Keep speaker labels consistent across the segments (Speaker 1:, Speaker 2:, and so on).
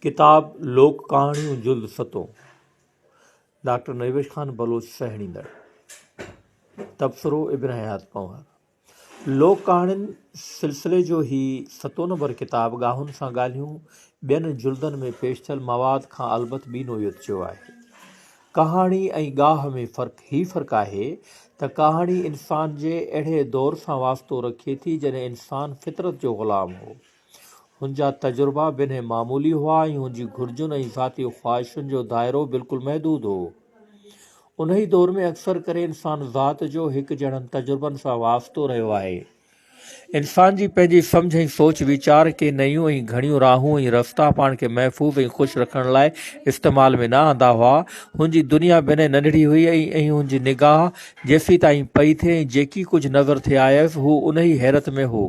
Speaker 1: ڪتاب لوڪ ڪهاڻيون جلد ستون ڊاڪٽر نيوش خان بلوچ سهيڙيندڙ تبصرو ابن حيات پنهور لوڪ ڪهاڻين سلسلي جو هي ستون نمبر ڪتاب ڳاهن سان ڳالهيون ٻين جلدن ۾ پيش ٿيل مواد کان البت ٻي نوعيت جو آهي ڪهاڻي ۽ ڳاهه ۾ فرق هي فرق آهي ته ڪهاڻي انسان جي اهڙي دور سان واسطو رکي ٿي جڏهن انسان فطرت جو غلام هو هن جا تجربا به انهي معمولي هئا ۽ هن جي گهرجن ۽ ذاتي خواهشن جو دائرو بلڪل محدود هو. انهي دور ۾ اڪثر ڪري انسان ذات جو هڪ جهڙن تجربن سان وابستو رهيو آهي. انسان جي پنهنجي سمجهه ۽ سوچ ويچار ڪي نيون ۽ گهڻيون راهون ۽ رستا پاڻ کي محفوظ ۽ خوش رکڻ لاء استعمال ۾ نه آندا هئا. هن جي دنيا به انهي ننڍڙي هئي ۽ هن جي نگاهه جيسيتائين پئي ٿي ۽ جيڪي ڪجهه نظر ٿي آيس هو انهي حيرت ۾ هو.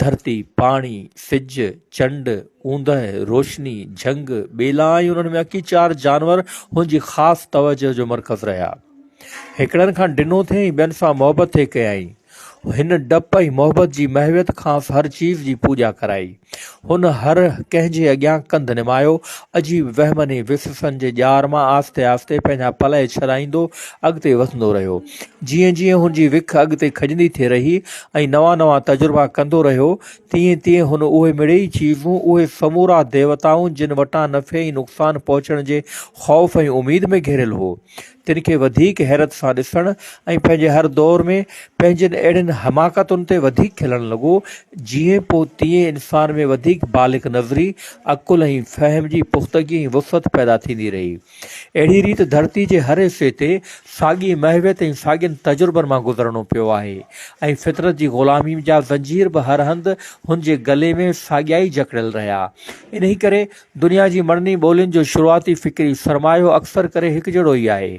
Speaker 1: ڌرتي، پاڻي، سج، چنڊ، اوندهه، روشني، جهنگ، ٻيلا ۽ انهن ۾ اڪي چار جانور هن جي خاص توجهه جو مرڪز رهيا. هڪڙن کان ڊنو ٿي ۽ ٻين سان محبت ٿي ڪيائين. هن ڊپ ۽ محبت جي محويت کانئس هر چيز جي پوڄا ڪرائي. هن هر ڪنهن جي اڳيان ڪنڌ نمايو. عجيب وهمن ۽ وسوسن جي ڄار مان آهستي آهستي پنهنجا پلئه ڇڏائيندو اڳتي وڌندو رهيو. جيئن جيئن هن جي وک اڳتي کڄندي ٿي رهي ۽ نوان نوان تجربا ڪندو رهيو، تيئن تيئن هن اهي مڙيئي چيزون، اهي سمورا ديوتائون جن وٽان نفعي ۽ نقصان پهچڻ جي خوف ۽ اميد ۾ گهيريل هو، تن کي وڌيڪ حيرت سان ڏسڻ ۽ پنهنجي هر دور ۾ پنهنجين اهڙين حماقتن تي وڌيڪ کلڻ لڳو، جيئن پوء تيئن انسان ۾ وڌيڪ بالغ نظري، عقل ۽ فهم جي پختگي ۽ وسعت پيدا ٿيندي رهي. اهڙي ريت ڌرتي جي هر حصي تي ساڳي محويت ۽ ساڳين تجربن مان گذرڻو پيو آهي ۽ فطرت جي غلامي جا زنجير به هر هنڌ هن جي گلي ۾ ساڳيا ئي جڪڙيل رهيا. انهي ڪري دنيا جي مڙني ٻولين جو شروعاتي فڪري سرمايو اڪثر ڪري هڪجهڙو ئي آهي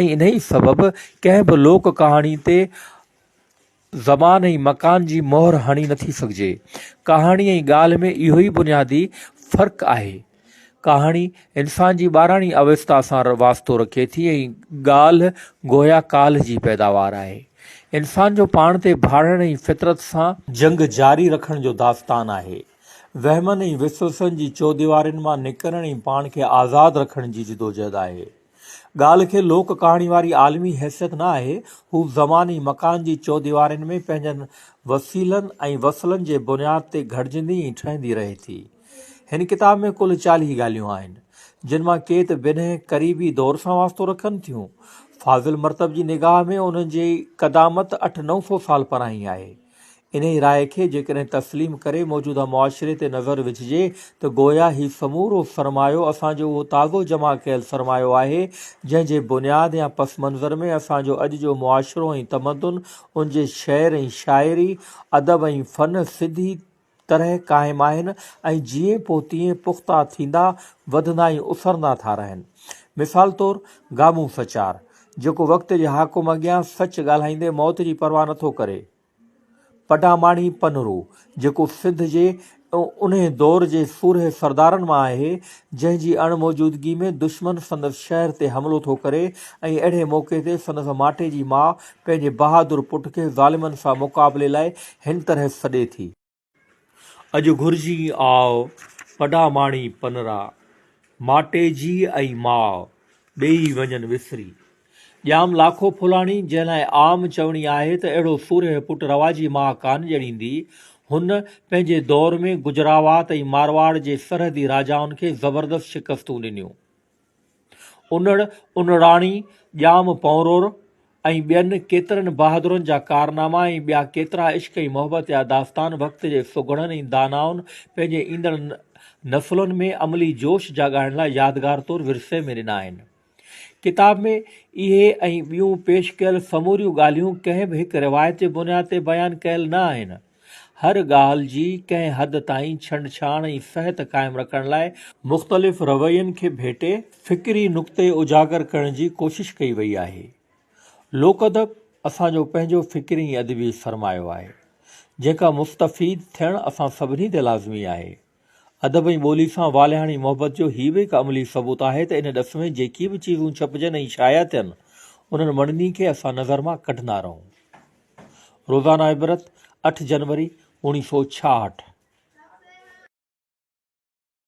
Speaker 1: ۽ انهي سبب ڪنهن به لوڪ ڪهاڻي تي زمان ۽ مڪان جي مهر هڻي نٿي سگهجي. ڪهاڻي ۽ ڳالهه ۾ اهو ئي بنيادي فرق آهي. ڪهاڻي انسان جي ٻاراڻي اوستا سان واسطو رکي ٿي ۽ ڳالهه گويا ڪالهه جي پيداوار آهي. انسان جو پاڻ تي ڀاڙڻ ۽ فطرت سان. جنگ جاري رکڻ جو داستان آهي. وهمن ۽ وسوسن جي چوديوارين مان نڪرڻ ۽ پاڻ کي آزاد رکڻ جي جدوجهد آهي. ڳالهه کي لوڪ ڪهاڻي واري عالمي حيثيت نه آهي، هو زمان ۽ مڪان جي چوديوارين ۾ پنهنجن وسيلن ۽ وصلن جي بنياد تي گهڙجندي ۽ ٺهندي رهي ٿي. هن ڪتاب ۾ ڪل چاليهه ڳالهيون آهن، جن مان ڪي ته بنهه قريبي دور سان واسطو رکن ٿيون. فاضل مرتب جي نگاهه ۾ انهن جي قدامت اٺ نو سو سال پرائين آهي. انهيء راء کي جيڪڏهن تسليم ڪري موجوده معاشري تي نظر وجهجي ته گويا هي سمورو سرمايو اسان جو اهو تازو جمع ڪيل سرمايو آهي، جنهن جي بنياد يا پس منظر ۾ اسان جو اڄ جو معاشرو ۽ تمدن، ان جي شعر ۽ شاعري، ادب ۽ فن، سڌي طرح قائم آهن ۽ جيئن پوء تيئن پختا ٿيندا وڌندا ۽ اسرندا ٿا رهن. مثال طور گامون سچار، جيڪو وقت جي حاڪم اڳيان سچ ڳالهائيندي موت جي پرواهه نه ٿو ڪري. پڊاماڻي پنهرو، جيڪو سنڌ جي انهي دور جي سورهيه سردارن مان آهي، جنهن جي اڻ موجودگي ۾ دشمن سندس شهر تي حملو ٿو ڪري ۽ اهڙي موقعي تي سندس ماٽي جي ماء پنهنجي بهادر پٽ کي ظالمن سان مقابلي لاء هن طرح سڏي ٿي. اڄ گهرجين آء پڊا ماڻي پنرا، ماٽي جي ۽ ماء، ٻيئي وڃن وسري. ڄام لاکو ڦولاڻي جنهن لاء عام چوڻي آهي ته اهڙو سورهيه پٽ رواجي ماء ڪانه ڄڻيندي، هن پنهنجي دور ۾ گجراوات ۽ مارواڙ جي سرحدي راجائن کي زبردست شڪستون ڏنيون. انڙ، انڙاڻي، ڄام پونرور ۽ ٻين ڪيترن بهادرن جا ڪارناما ۽ ٻيا ڪيترا عشق ۽ محبت جا داستان وقت جي سگهڙن ۽ دانائن پنهنجي ايندڙ نسلن ۾ عملي جوش جاڳائڻ لاء يادگار طور ورثي ۾ ڏنا آهن. ڪتاب ۾ اهي ۽ ٻيون پيش ڪيل سموريون ڳالهيون ڪنهن به هڪ روايت جي بنياد تي بيان ڪيل نه آهن. هر ڳالهه جي ڪنهن حد تائين ڇنڊڇاڻ ۽ فحت قائم رکڻ لاء مختلف روين کي ڀيٽي فڪري نقطي اجاگر ڪرڻ جي ڪوشش ڪئي وئي آهي. لوڪ ادب اسان جو پنهنجو فڪري ۽ ادبي سرمايو آهي، جنهن کان مستفيد ٿيڻ اسان سڀني تي لازمي آهي. ادب ۽ ٻولي سان والهاڻي محبت جو هي به هڪ عملي ثبوت آهي ته ان ڏس ۾ جيڪي به چيزون ڇپجن ۽ شايع ٿين، انهن مڙني کي اسان نظر مان ڪڍندا رهون. روزانه عبرت، اٺ جنوري، اوڻيهه سؤ ڇاهٺ.